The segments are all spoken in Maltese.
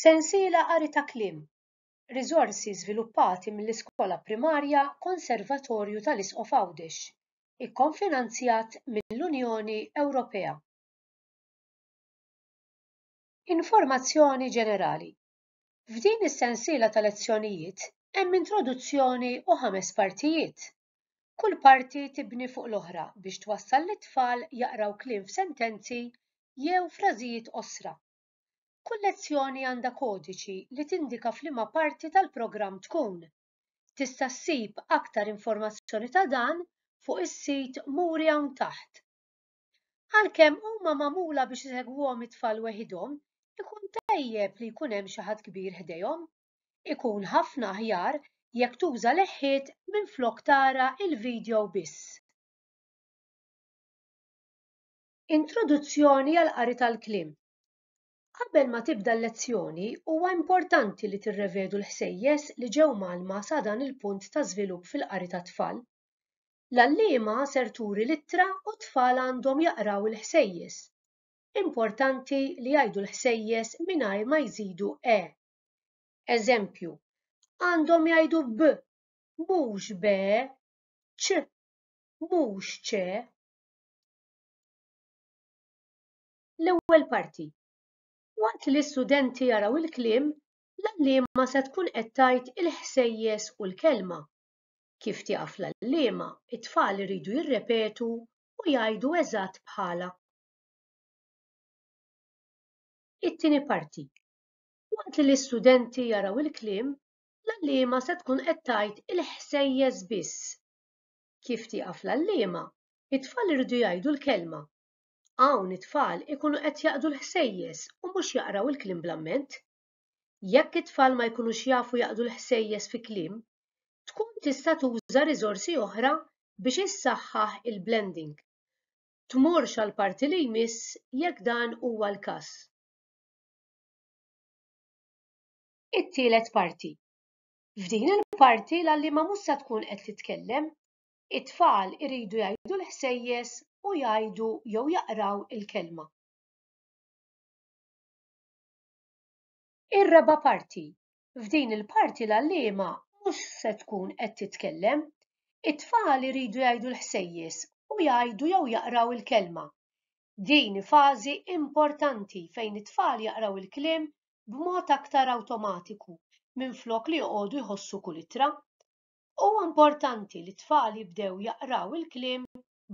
Sensiela Qari ta' kliem Riżorsi żviluppati mill-Iskola Primarja Konservatorju tal-Isqof Għawdex, ikkonfinanzjat mill-Unjoni Ewropea. Informazzjoni ġenerali F'din is-sensiela ta' lezzjonijiet hemm introduzzjoni u ħames partijiet, Kull parti tibni fuq l-oħra biex twassal lit-tfal jaqraw kliem f'sentenzi jew frażijiet qosra. Kull lezzjoni għandha kodiċi li tindika f'liema parti tal-programm tkun. Tista' ssib aktar informazzjoni ta' dan fuq is-sit muri hawn taħt. Għalkemm huma magħmula biex isegwuhom it-tfal weħidhom, ikun tajjeb li jkun hemm xi ħadd kbir ħdejhom. Ikun ħafna aħjar jekk tuża leħħiet minflok tara l-vidjow biss. Introduzzjoni għall-qari tal-kliem. Qabel ma tibda l-lezzjoni, huwa importanti li tirrevedu l-ħsejjes li ġew mgħallma sa dan il-punt ta' żvilupp fil-qari tat-tfal. L-għalliema ser turi l-ittra u t-tfal għandhom jaqraw il-ħsejjes. Importanti li jgħidu l-ħsejjes mingħajr ma jżidu e Eżempju, għandhom jgħidu b, mhux be, ċ, mhux ċe. L-ewwel parti. Waqt li l-istudenti jaraw il-kliem, l-għalliema se tkun qed tgħid il-ħsejjes u l-kelma. Kif tieqaf l-għalliema, it-tfal iridu jirrepetu u jgħidu eżatt bħalha. It-tieni parti. Waqt li l-istudenti jaraw il-kliem, l-għalliema se tkun qed tgħid il-ħsejjes biss. Kif tieqaf l-għalliema, it-tfal iridu jgħidu l-kelma. Hawn it-tfal ikunu qed jaqdu l-ħsejjes u mhux jaqraw il-kliem bl-amment. Jekk it-tfal ma jkunux jafu jaqdu l-ħsejjes fi kliem, tkun tista' tuża riżorsi oħra biex issaħħaħ il-blending. Tmurx għall-parti li jmiss jekk dan huwa l-każ. It-tielet parti. F'din il-parti l-għalliema mhux se tkun qed titkellem. It-tfal iridu jgħidu l-ħsejjes u jgħidu jew jaqraw il-kelma. Ir-raba' parti. F'din il-parti l-għalliema mhux se tkun qed titkellem. It-tfal iridu jgħidu l-ħsejjes u jgħidu jew jaqraw il-kelma. Din hi fażi importanti fejn it-tfal jaqraw il-kliem b'mod aktar awtomatiku minflok li joqogħdu jħossu kull ittra. Huwa importanti li t-tfal jibdew jaqraw il-kliem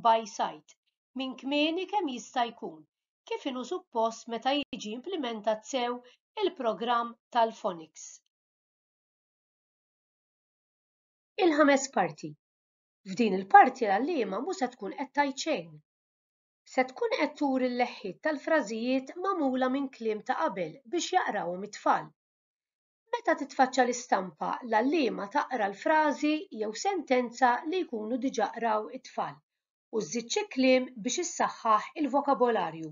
by sight minn kmieni kemm jista' jkun, kif inhu suppost meta jiġi implimentat sew il-programm tal-Phonics. Il-ħames parti. F'din il-parti l-għalliema mhu se tkun qed tgħid xejn. Se tkun qed turi l-leħħiet tal-frażijiet magħmula minn kliem ta' qabel biex jaqrawhom it-tfal. Meta titfaċċa l-istampa, l-għalliema taqra l-frażi jew sentenza li jkunu diġà qraw it-tfal u żżid xi kliem biex issaħħaħ il-vokabolarju.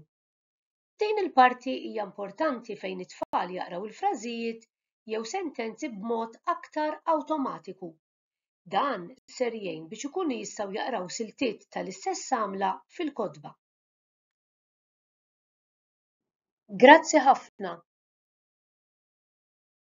Din il-parti hija importanti fejn it-tfal jaqraw il-frażijiet jew sentenzi b'mod aktar awtomatiku. Dan ser jgħin biex ikunu jistgħu jaqraw siltiet tal-istess għamla fil-kotba. Grazzi ħafna!